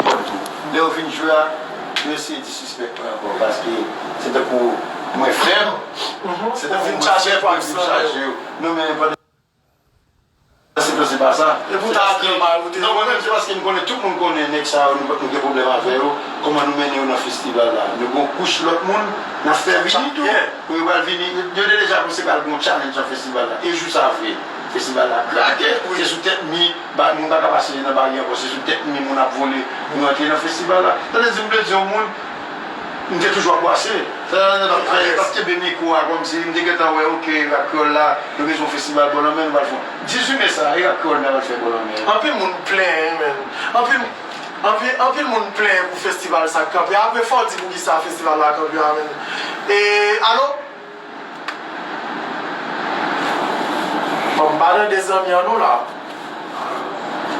Bon tou, lè yo vin jwe a, yo eseye disrespect mwen ankò paske se tankou mwen fèb, se tankou mwen fèb pou yo vin chaje yo. Non men pandan se tan se pa sa. E pou ta apre mal ou te. Non mwen menm se paske m konnen tout moun konnen nèg sa yo nou gen pwoblèm avè yo, kòman nou mennen yo nan festival la. Nou gen yon kouch lòt moun nap fè vini tou pou yo pral vini. Yo te deja anonse pral gen yon challenge nan festival la e jou sa vre. Festival la krake ou se sou tèt mi ba moun paka pase nan bari ankò se sou tèt mi moun ap vole pou rantre nan festival la tande dim vle diw moun m te toujou ap bwase fè nan yo tap fè yo tap kenbe mikwo a kòmsi m te gentan wè ok rap kreyòl la yo bezwen yon festival bò lanmè nou pral fè yon 18 me sa e rap kreyòl nou ta pral fè bò lanmè. Anpil moun plenyen men anpil anpil anpil moun plenyen pou festival sa kanpe apre fòw di poukisa festival la kanpe a menn e alo. Banm pale de zanmi an non la.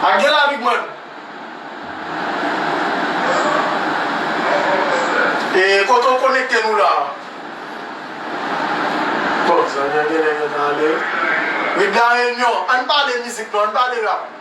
A gen la big man. E kote ou konekte nou la. Bon zanmi an genlè gen tan ale wi. Wi blan renyon. Ann pale mizik non ann pale rap.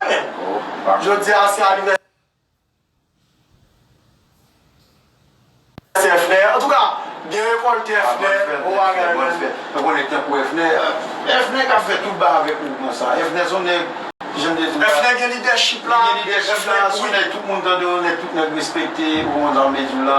Amen Jodi a se anivèsè frè Antouka byen rekòlte frè Bon bagay man Mwen konnen tankou Efnè Efnè kap fè tout bagay avèk nou konsa Efnè son nèg Kijan m te di w la Efnè gen lidèchip la Li gen lidèchip la Son nèg tout moun tande w Nèg tout nèg respekte Ou konprann sa m vle di w la.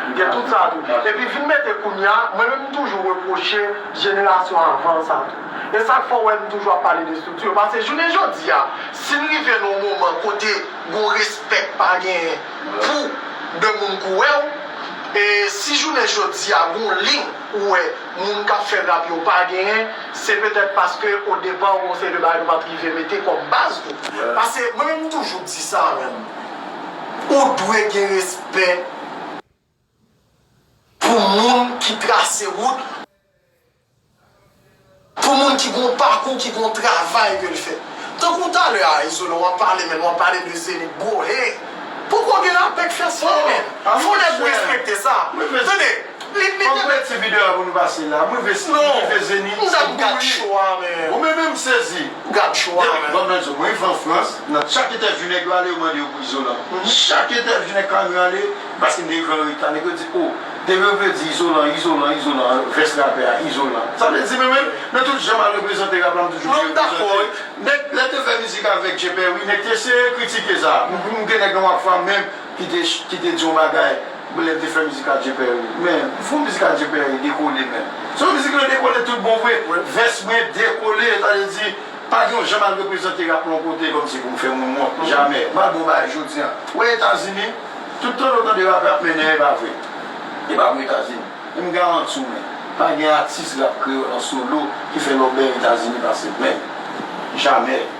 Li gen tout sa tou. Epi vin mete kounya, mwen menm m toujou repwoche jenerasyon avan an sa tou. E sak fè w wè m toujou ap pale de estrikti yo pase jounen jodi a si n rive nan yon moman kote gon respè k pa genyen pou 2 moun k wè w e si jounen jodi a gon lin ou wè moun k ap fè rap yo pa genyen se petèt paske o depa gon seri de bagay nou pat rive mete kòm baz tou. Pase mwen menm m toujou di sa menm ou dwe gen respè. Pou moun ki trase wout li. Pou moun ki gen yon pakou, ki gen yon travay ke l fè. Tankou talè a Izolan w ap pale menn, w ap pale de Zenith bro hey! Poko gen lapè k fè sa menn! Fò nèg respekte sa! Tande! Fòk nou met ti video a pou nou pase la. M rive Zénith m tou gou wi. Bon men men m sezi. Depi bon men m rive an Frans nan chak entèvyou nèg yo ale yo mande yo pou Izolan. Chak entèvyou nèg Carmir ale paske m te rive an reta nèg yo di oh depi yo vle di Izolan Izolan Izolan vès rapè a Izolan. Sa vle di men men nan tout jan m al reprezante rap la m toujou byen reprezante. Nèg lè te fè mizik avèk Djeperwi nèg te eseye kritike sa. M gen nèg nan Wafa menm. ki te ki te di yon bagay m lè m te fè mizik Adje Père men fo mizik Adje Père dekole menm se yon mizik ki te dekole tout bon vre vès mwen dekole sa vle di pa gen yon jan m al reprezante rap la yon kote kòmsi pou m fè moun wont jamè m al bon bagay jodi an ou wè Etazini tout tan ou tande rapè ap mennen e pa vre e pa pou Etazini e m garanti w men pa gen atis rap kreyòl an solo ki fè lòbèy Etazini pase m menm jamè.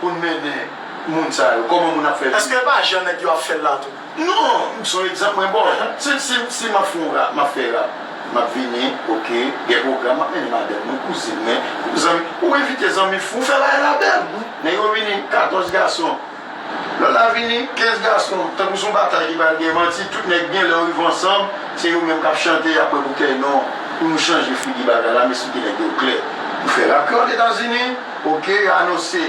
Pou n mennen moun sa yo kòman moun ap fè viv. Eske e pa jan nèg yo ap fèl la tou. Non, son egzanp mwen baw la. Si map fè yon rap, map fè rap. Map vini ok, gen pwogram map mennen madanm mwen, kouzin mwen, zanmi. Ou envite zanmi fou, fè bagay la bèl. Nèg yo vini 14 gason, lòt la vini 15 gason. Tankou son batay ki pral gen manti, tout nèg gen lè yo rive ansanm, se yo menm kap chante, yap bwè boutèy. Non, pou nou chanje figi bagay la, m esplike nèg yo klè. Nou fè rap kreyòl etazini. Ok yo anonse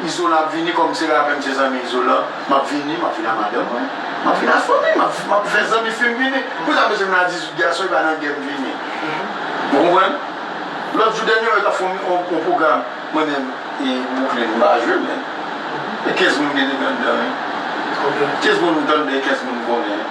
izolan ap vini kòm se rapè m se zanmi izolan map vini map vini a madanm mwen map vini a fanmi m map fè zanmi fim vini poukisa m bezwen vin a 18 gason epa nan gèm vini ou konprann lòt jou dènye yo tap fè yon pwogram mwen menm e Brooklyn m pa jwe men e 15 moun gen dedan dan wi 15 moun m tande 15 moun m konnen.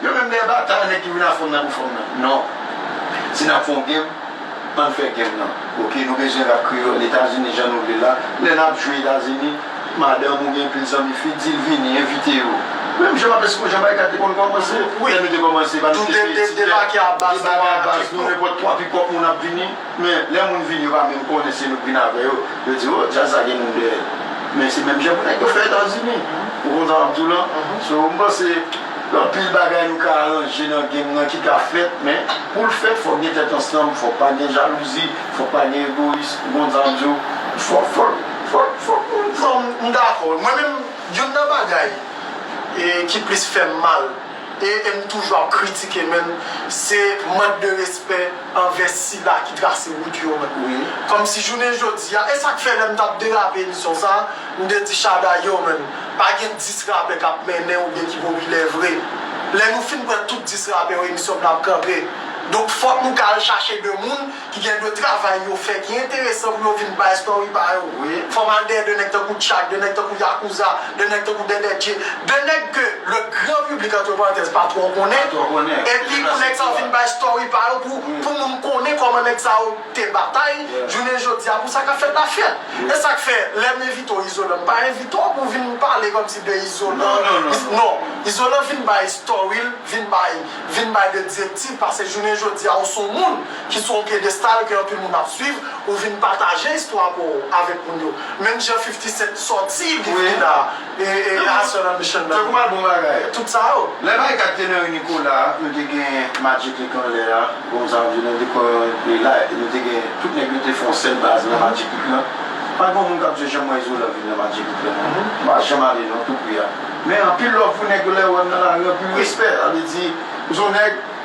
Yo menm dèyè batay nèg ki vin a fòm nan pou fòm nan non si nap fon game ann fè game nan ok nou bezwen rap kreyòl etazini jan nou vle la lè nap jwe etazini madanm ou gen pil zanmi fi dil vini envite yo menm jan map eskonjan barikat te konn kòmanse lè nou te kòmanse pa nou te se debake a baz nou a baz nou nenpòt 3 pikòp moun ap vini men lè moun vini yo pa menm konnen se nou k vin avè yo yo di oh djaz la gen moun dèyèl men se menm jan pou nèg yo fè etazini ou konprann sa map diw lan so m panse Gen anpil bagay nou ka aranje nan game nan ki ka fèt men poul fèt fòk gen tèt ansanm, fòk pa gen jalouzi, fòk pa gen egoyis bon jan diw fòk fòk fòk fòk moun pran m dakò wi mwen menm youn nan bagay e ki plis fèm mal e em toujou ap kritike menm se mank de respè anvè sila ki trase wout yo kòmsi jounen jodia esak fè lèm tap derape emisyon sa. M te di Shada yow menn pa gen 10 rapè kap mennen oubyen ki popilè vre lè nou fin pran tout 10 rapè yo emisyon m nan ap kanpe donk fòk nou ka al chache 2 moun ki gen 2 travay yo fè ki enteresan pou yo vin bay story pa yo fòm al dèyè 2 nèg tankou Tchak 2 nèg tankou Yakouza 2 nèg tankou Dèdè Dje 2 nèg ke le gran piblik antre parantèz pa twò konnen epi pou nèg sa yo vin bay story pa yo pou pou moun konnen kòman nèg sa yo te batay jounen jodi a pou sa kap fèt la fèt e sak fè lèm envite w izolan m pa envite w pou w vin pale kòm si de izolan non izolan vin bay story l vin bay vin bay de direktiv pase jounen jodi a ou son moun ki sou yon pyedestal ke anpil moun ap swiv ou vin pataje istwa pa w avèk moun yo menm jan 50 cent sòti li vini la. E e Hason anbition nan. Tankou album bagay. Tout sa yo. Lè bay 4 tenor e Nicolas a nou te gen Magic li t anlè a bon Xavier nan te pran li la epi nou te gen tout nèg yo te fè yon sèl baz nan Magic li t lan pa gon moun kap di yo janm wè Izolan vin nan Magic li t lan non m pa janm ale non tout pri a men anpil love pou nèg yo lè yo wè m nan lari anpil respè sa vle di m son nèg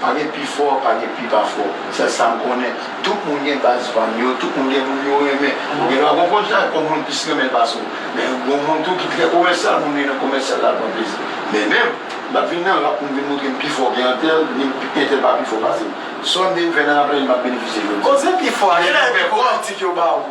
Pa gen pi fò, pa gen pi pa fò. Sèl sa m konnen, tout moun gen baz fan yo, tout moun gen moun yo renmen. Ou gen dwa konprann sa, konn moun plis renmen l pase w. Men, gon moun tou ki trè komèsyal, moun li nan komèsyal la, l pran plezi. Men menm, m pa t vin nan rap pou m vin montre m pi fò ke antèl, ni m pi entèl pa pi fò pase m. Sunday m fè nan rap la, li m ap benefisye jodi. Koze pi fò a, gen lè epi pou kritik yo ba w.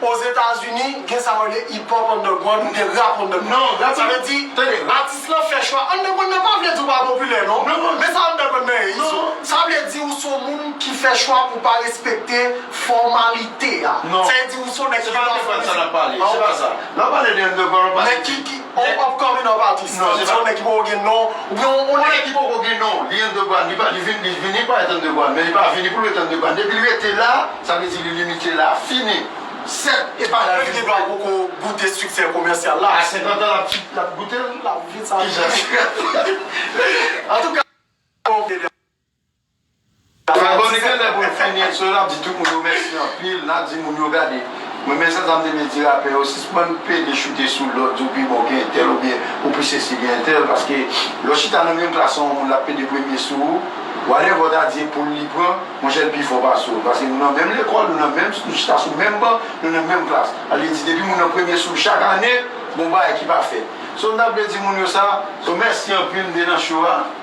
Ozetazini gen sa yo rele hip hop underground ou gen rap underground. Sa vle di, tande, atis lan fè chwa underground nan pa vle di ou pa popilè non. Men sa underground nan ye Izo? Sa vle di ou son moun ki fè chwa pou pa respekte fòmalite a. Sa vle di ou son nèg ki pa fè mizik. Nan pale de underground ou pale de. Ou upcoming of artist? Non, se pa yon nèg ki poko gen non, oubyen yon nèg. Yon nèg ki poko gen non, li underground, li pa, li vin, li vini pa èt underground, men li pa vini pou l ret underground. Depi li rete la, sa vle di li limite la, fini. 7, e pa la. Nèg ki pa poko goute siksè komèsyal la. A 50 an l ap, l ap goute l? L ap vin sa. Kijan l fè? Antouka, bon. Kalbone genlè pou l fini sou nap di tout moun yo mèsi anpil nap di moun yo gade mwen men jan zam te vle di rapè yo sispann pede choute sou lòt di w pi bon ke entèl oubyen ou pi sesi ke entèl paske lè w chita nan menm klas a yon moun lap pede premye sou ou whatever w ta di epol li pran monchè l pi fò pase w paske nou nan menm lekòl nou nan menm nou chita sou menm ban nou nan menm klas sa vle di depi moun nan premye sou w chak ane gon bagay ki pa fèt so m ta vle di moun yo sa so mèsi anpil m te nan cho a.